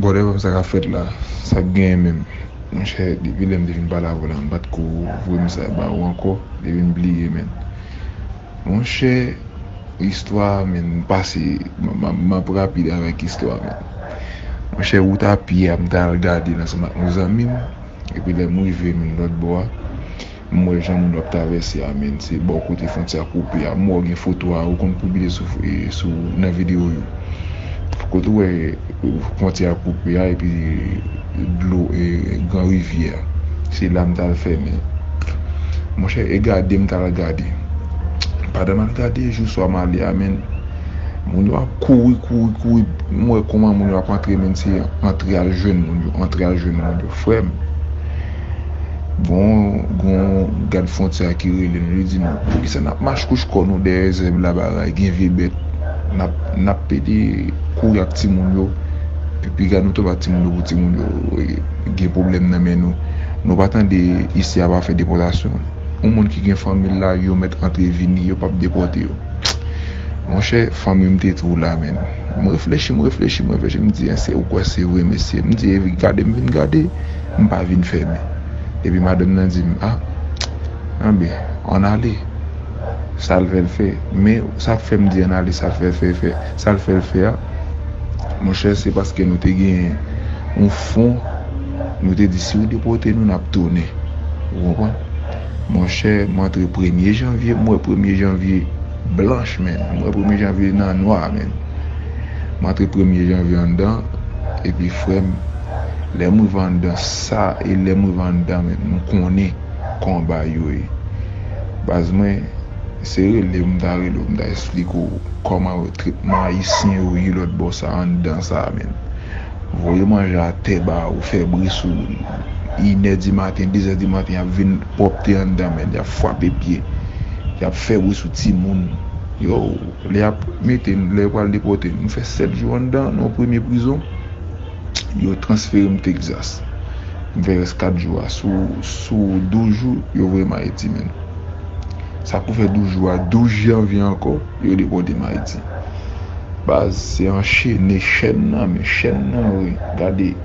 Bwòdè pam sa kap fèt la sak genyen menm monchè depi lèm te fin pale avèw la mpat ko voye mesaj ba ou ankò depim bliye menn monchè istwa menn mpase map rapid avèk istwa menn monchè wout apye a mtal gadel ansanm ak yon zanmim epi lèm rive menn lòt bò a. M wè jan moun yo ap travèse a menn se bò kote fontyè a koupe a m wè w gen foto a ou konn pibile sou nan video yo kote ou wè fontyè a koupe a epi dlo gran rivyè a se la m t al fèmen monchè e gade m t al gade pandan m al gade jou swa m ale a menn moun yo ap kouri kouri kouri m wè kouman moun yo ap antre menn se antre al jwenn moun yo antre al jwenn moun yo frè m. Bon gon gad frontyè a ki rele nou li di nou poukisa nap mach kouch kò nou dèyè zèb la bagay gen vye bèt nap nap pede kouri ak timoun yo pi piga nou toba timoun yo pou timoun yo gen pwoblèm nan men nou nou pa tande isi a pa fè depòtasyon yon moun ki gen fanmil la yo mèt antre vini yo pap depòte yo monchè fanmim te tou la menn m reflechi m reflechi m reflechi m di èske ou kwè se vre mesye m di gadem vin gade. M pa vin fèmen. Epi madanm nan di m, Ah, anben, ann ale. Sa l fè l fè. Men, sa k fè m di ann ale, sa l fè l fè, fè, sa l fè l fè a, monchè, se paske nou te gen yon fon, nou te di si w depòte nou, n ap tounen. Ou konprann? Monchè, m antre premye janvye, m wè premye janvye. Blanch menn mwen premye janvye nan nwa menn m antre premye janvye anndan epi frèm lèm rive anndan sa e lèm rive anndan menn m konnen konba yo ye baz mwen se relew m ta relew m ta esplike w kòman tretman ayisyen yo ye lòt bò sa anndan sa menn Voye manje atè ba ou fè bri sou inè di maten, dezè di maten y ap vin pwòpte anndan men, y ap fwape pye, y ap fè bri sou timoun yo. Lè y ap mete n, lè yo pral depòte n, nou fè sèt jou anndan nan yon premye prizon. Yo transfere m Tekzas. M fè rès kat jou a. Sou douz jou, yo voye m Ayiti menm. Sa pou fè douz jou a, douz janvye ankò. Yo depòte m ayiti. Baz se anchene chèn nan men chèn nan wi gade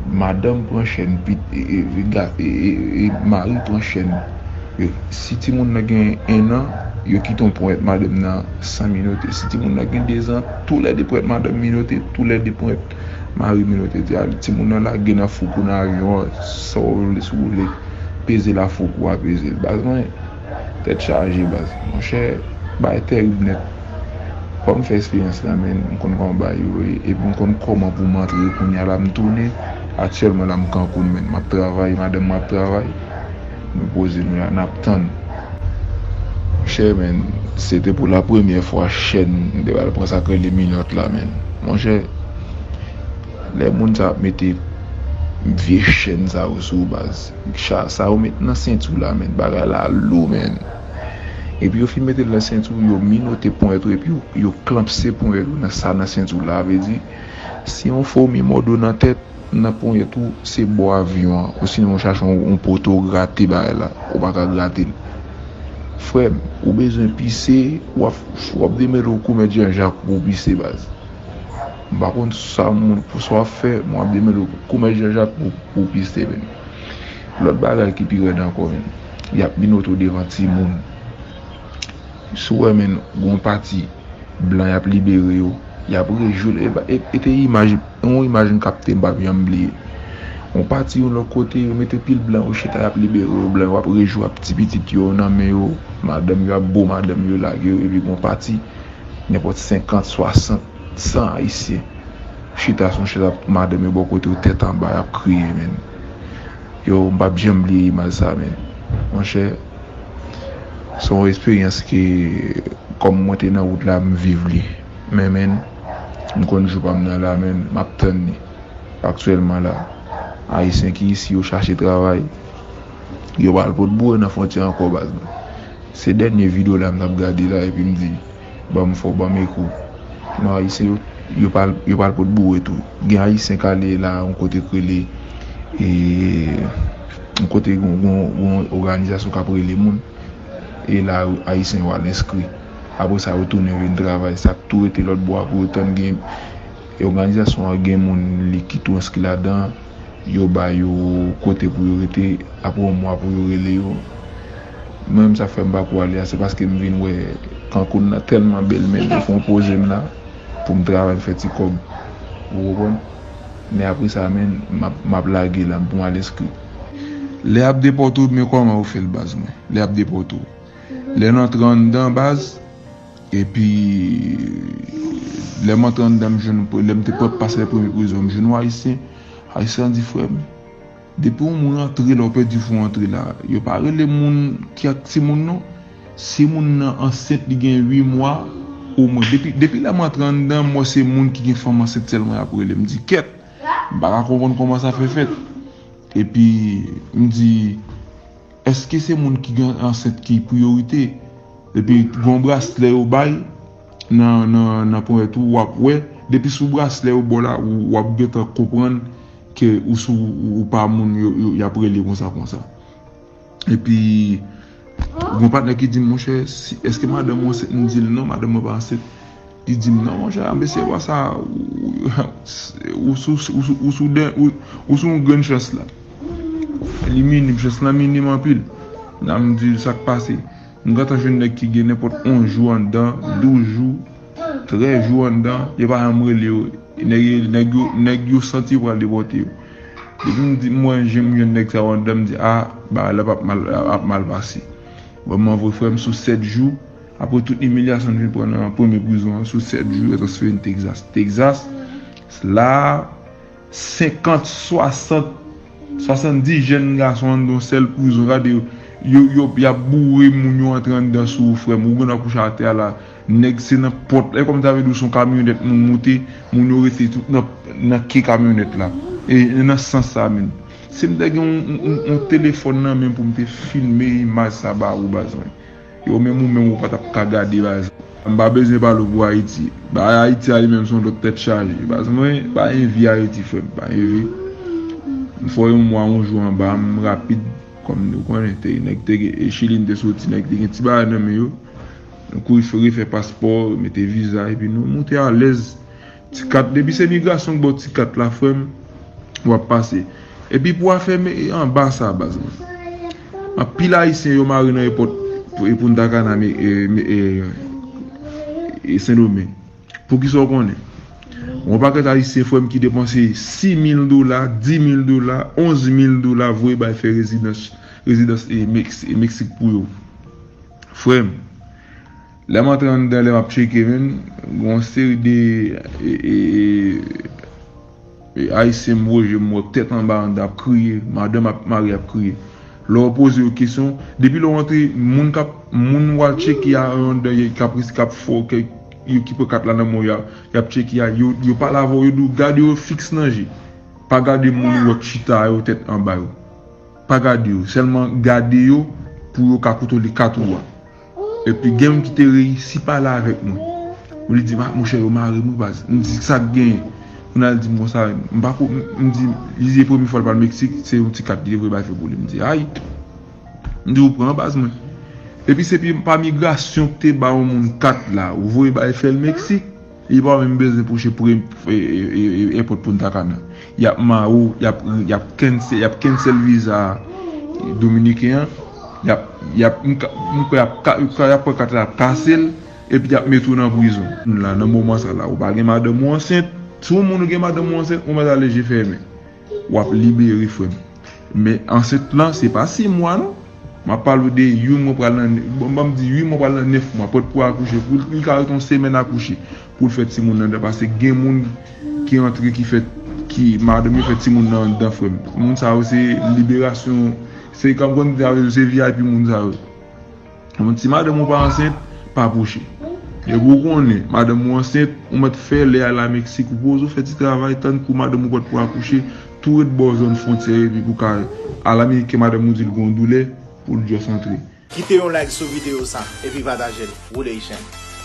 madanm pran chèn pit mari pran chèn yo si timoun nan gen 1 an yo kite yon ponyèt madanm nan san minote si timoun nan gen 2 zan tou lè 2 ponyèt madanm minote tou lè 2 ponyèt mari minote di a timoun nan lage nan foukou nan avyon an sa w vle si w vle peze l a foukou a peze l baz mwen. Tèt chaje baz. Monchè bagay tèrib nèt. Fòm fè esperyans la menn, m konn kòman bagay yo ye epi m konn kòman poum antre kounya la m tounen aktyèlman la m Cancun menn map travay madanm mwen ap travay nou poze nou la nap tann monchè menn se te pou la premyè fwa chèn m te pral pran sak rele minòt la menn monchè lè moun sa ap mete vye chèn sa yo sou w baz. Cha sa yo met nan senti la menn bagay la lou menn epi yo fin metel nan senti w yo minote ponyèt ou epi yo klanpse ponyèt ou nan sa nan senti w la vle di si yon fomi mòde w nan tèt nan ponyèt ou se bò avyon an osinon ou chache yon poto grate bagay la ou paka gratel frèm ou bezwen pise wap demele w komèt janjak pou w pise baz. M pa konn sa moun fou sa w ap fè, men w ap demède w pou komès janjak pou w piste menn. Lòt bagay ki pi rèd ankò menn, y ap minote w devan timoun. Si w wè menn gen yon pati blan y ap libere yo, y ap rejwi l. E te imaj, e yon imaj m kapte m p ap janm bliye. Yon pati yon lòt kote, yo mete pil blan, yo chita y ap libere yo, blan yo ap rejwi ak ti pitit yo nan men yo, madanm yo ap bo madanm yo lage yo epi gen yon pati nenpòt senkant, swasant. San ayisyen chita sou yon chèz avk madanm yo bò kotew tèt anba yap kriye menn yow mpap janm bliye imaj sa menn monchè se yon esperyans ke kòm mwen te nan wout la mviv li men menn mkonn jou pam nan la menn map tann li aktyèlman la ayisyen ki isi yo chache travay yo pa al potbou yo nan fwontyè ankò baz mwen se dènye video la mtap gade la epim di. Banm fò banm eko. Non ayisyen yo yo pral yo pral pot boure tou gen ayisyen kale la yon kote k rele e yon kote gon gon gon oganizasyon kap rele moun e la ayisyen yo al enskri apre sa yo tounen vin travay sak tou rete lòt bò a pou yo tann gen e oganizasyon an gen moun li ki tou enskri ladan yo ba yo kote pou yo rete apre yon mwa pou yo rele yo. Mwen menm sak fè m pa ko ale a se paske m vin wè Cancun nan tèlman bèl men yo fon poze m la pou m travay m fè ti kòb ou konprann men apre sa menn map map lage la pou m al enskri. Lè yap depòte w men kòman yo fè l baz mwen lè yap depòte w lè n antre anndan baz epi lè m antre anndan m jwenn lè m te prèp pase lè premye prizon m jwenn yon ayisyen ayisyen an di frè m Depi yon moun antre la ou pèdi fon antre la. Yo pa rele moun ki ak timoun non. Si moun nan ansent li gen 8 mwa o mwen. Depi lèm antre anndan mwen se moun ki gen fanm ansent sèlman yap rele. M di kèt. M paka konprann kòman sa fè fèt. Epi m di èske se moun ki gen ansent ki priyorite. Epi gon braslè yo bay nan ponyèt ou wap wè. Depi sou braslè yo baw la wap gentan konprann. Ke ou si ou pa moun yo y ap rele konsa konsa. Epi gen yon patnè ki di m, monchè, èske madanm ou ansent? M di l, non, madanm mwen pa ansent. Li di m, non, monchè, anben se lwa sa a, ou sou yon grenn chans la. Li minim, chans lan minim anpil. M di l, sa k pase? M gentan jwenn nèg ki gen nenpòt 11 jou anndan, 12 jou, 13 jou anndan, yo pa janm rele yo, nèg yo santi yo pral depòte yo. Depi m di m wè jen m jwenn nèg sa yo anndan m di a, bagay la ap mal pase. Vrèman vre frè m sou 7 jou, aprè tout imilyasyon n fin pran nan premye prizon an, sou 7 jou yo transfere n Texas. Texas, la a. 50, 60, 70 jèn gason anndan yon sèl prizon gade yo yo yap boure moun yo antre anndan sou ou frèm ou gendwa kouche atè a la nèg se nan pòt e kòmsi sa vle di ou son kamyonèt moun moute moun yo rete tout nan nan ke kamyonèt la e nan sans sa menm sim ta gen yon yon telefòn nan menm poum te filme imaj sa ba ou baz mwen. Yo menm ou menm ou pa tap ka gade baz. M pa bezwen pale w pou ayiti. Bagay ayiti a li menm son lòt tèt chaje. Baz mwen pa envi ayiti frè m pa envi. M fò yon mwa yon jou anba m rapid kòm nou konnen te nèg te gen e chili n te soti nèg te gen ti bagay nan men yo. Nou kouri fè refè paspò, mete viza epi nou moute alèz. Ti kat depi se migration k baw ti kat la frèm wap pase epi pou afè anba sa baz mwen anpil ayisyen yo mare nan epòt puntacana sendomeng poukisa ou konnen gon pakèt ayisyen frèm ki depanse 6000 dola 10000 dola 11000 dola voye bay fè rezidans mexique pou yo frèm. Lè m antre anndan lè map tcheke menm gen yon seri de ayisyen m weje m wè tèt anba anndan ap kriye, madanm ak mari ap kriye. Lè w poze yo kesyon, depi lè w antre moun kap moun wal tcheke a anndan kap risk kap fè w kèk yo ki pran kat la nan men w ya yap tcheke a yo pale avè w yo di w gade yo fiks nan je. Pa gade moun ou wè k chita yo tèt anba yo. Pa gade yo sèlman gade yo pou yo ka kontwole kat ou a. Epi gen youn ki te reyisi pale avèk mwen. Epi li di m, ah monchè yo mare m wi baz. M di sa k genyen? Moun nan al di m konsa. M pa ko, m di, li di e premye fwa l pral Meksik, se youn ti kat li te voye bay fè pou li. M di ayy. M di ou pran baz mwen. Epi se pa migrasyon k te ba youn moun kat la, ou voye bay fè l Meksik. Li pa menm bezwen pwoche pre èpòt Punta Cana. Y ap mare w, y ap kensèl viza dominiken an, y ap, mwen kwè y ap pran kat la y ap kase l, epi y ap mete w nan prizon. Nan moman sa la, ou pa gen madanm ou ansent, si w gen madanm ou ansent, ou mèt ale je fèmen. Wap libere frem. Men ansent lan se pa 6 mwa non. Map pale ou de youn mwen pral nan bon banm di ui mwen pral nan 9 mwa pot pou akouche pou li ka ret yon semèn akouche poul fè timoun andan pase gen moun ki antre ki fè ki madanm yo fè timoun nan andan frèm moun sa yo se liberasyon se kòm konn di avèw se vip moun sa yo. Yon ti madanm ou pa ansent, pa pwoche. Depi ou konnen madanm ou ansent, ou mèt fè lè al Lameksik ou poze ou fè ti travay tann kou madanm ou pwèt pou akouche, tou ret bò zòn fwontyè epi pou ka al Ameriken madanm ou di l gon doulè pou l just antre. Kite yon like sou video sa epi patajel, woule ichèn.